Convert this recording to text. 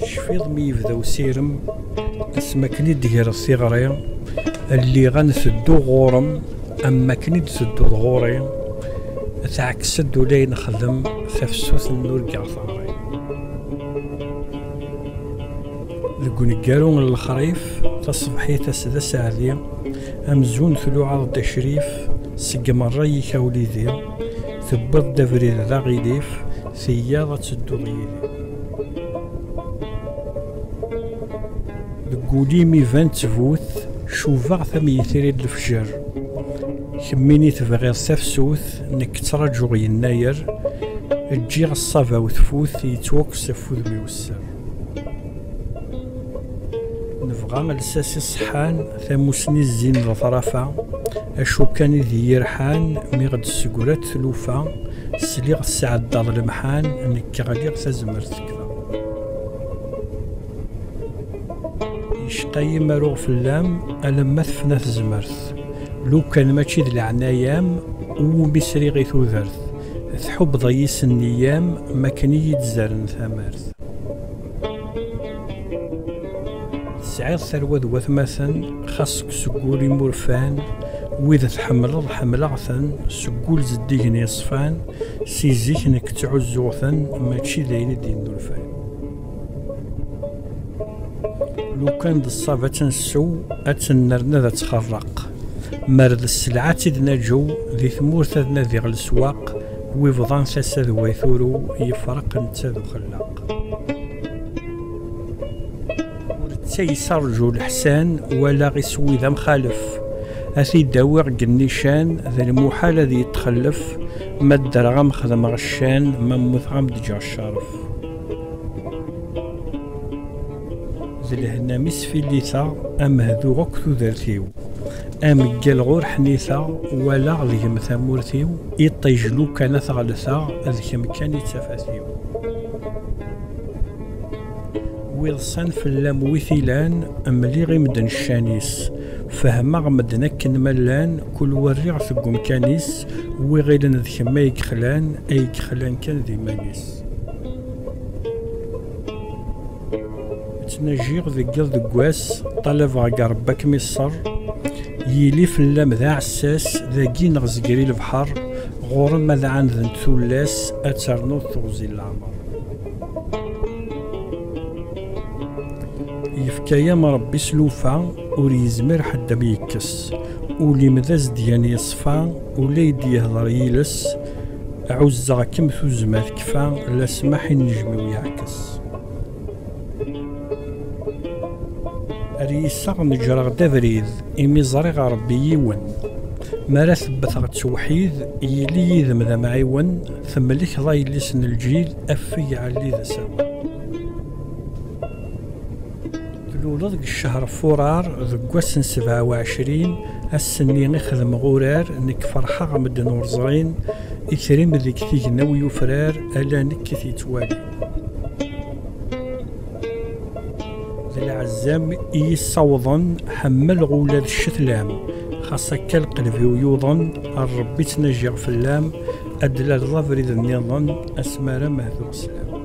Tecfiḍ mi yebda usirem, asmi akken i d-greɣ s iɣri, lliɣ a n-tedduɣ ɣur-m, am wakken i d-tedduḍ ɣur-i, teɛkes-d ula i nexdem tafsut n urgaɣ teɣri. Deg uneggaru n lexrif, taṣebḥit ass d aseɛdi, amzun tluɛaḍ-d acrif, seg merra yikaw lidi, Tewwiḍ-d abrid d aɣilif, teyyaḍ ad tedduḍ yid-i. Deg ul-im iban ttbut, cubaɣ-t am yitri n lefjer. Kemmini tebɣiḍ tafsut, nekk ttraǧuɣ yennayer, ǧǧiɣ ṣṣaba-w tfut, yettwakkes ɣef wudem-iw sser. Nebɣa lsas iṣeḥḥan. Tamusni zzin leḍrafa, acu kan i d iyi-rḥan, mi ɣ-d-tessegra-d tlufa, sliɣ tesɛeddaḍ lemḥan, nekk ɣliɣ tazmert tekfa. Yecqa-yi ma ruɣ fell-am, alamma tefna tezmert, lukan mačči d leɛnaya-m, uwumi sriɣ i tudert, tḥubbeḍ-iyi s nniyya-m, makken i yi-d-zerren tamart. Tesɛiḍ tarwa d watmaten, xas seg wul i murfan, wid tḥemmleḍ ḥemmleɣ-ten, seg wul zeddigen yeṣfan, si zik nekk ttɛuzzuɣ-ten, mačči d ayen i d-yennulfan. Lukan d ṣṣab ad tt-nsew, ad tt-nerr ad tt-xerreq, mer d sselɛa ad tt-id-naǧew, di tmurt ad nadiɣ leswaq, wi bḍan tasa d way turew, yefreq netta d uxelleq. Netta yesserju leḥsan, walaɣ iswi d amxalef. A t-id-awiɣ deg nnican, d lmuḥal ad yettxellef, ma ddreɣ ad m-xedmeɣ ccan, ma mmuteɣ ad m-d-ǧǧeɣ ccerref. D lehna mi sfilliteɣ, a Mehdu akk tudert-iw, a Meggal ɣur ḥniteɣ, walaɣ deg-m tamurt-iw, iṭij lukan ad t-ɣellteɣ, d kemm kan i d tafat-iw. Wiḍsan fell-am wi t-ilan, mliɣ i medden ccan-is. Fehmeɣ medden akken ma llan, kul wa rriɣ-t deg umkan-is, wi ɣilen d kemm ay yexlan, ay yexlan kan d iman-is. ttnajiɣ deg iḍ deg wass ṭalabeɣ deg rebbi akem iṣṣer yili fell-am d aɛessas dagi neɣ zegri lebḥer ɣur-m ad ɛandent tullas ad ternuḍ teɣzi leɛmer yefka-yam rebbi s lufa ur yezmir ḥedd am yekkes ul-im d azedyan yeṣfa ula i d-yehder yiles Ɛuzzeɣ-kem tuzzma tekfa, la smaḥ i nnejmiw yeɛkes. Ar yiseɣ neǧreɣ-d abrid, imi ẓriɣ a Rebbi yiwen. Mi ara t-wwteɣ ttewḥid, yili yid-m d amɛiwen, temlekkeḍ a yelli-s n lǧid, afeg ɛelli d asawen. Tluleḍ deg ccehr Furar, deg wass n sebɛa uɛecrin, ass-nni i xedmeɣ urar, nekk ferḥeɣ medden ur ẓrin, itri-m deg tignaw yufrar, ala nekk i t-yettwalin. D lɛezzam i yi-ssawḍen, ḥemmleɣ ula d ccetla-m, xas akka lqelb-iw yuḍen, a Ṛebbi ttnajiɣ fell-am, ad d-tlaleḍ abrid nniḍen, asmi ara mahduɣ sslam.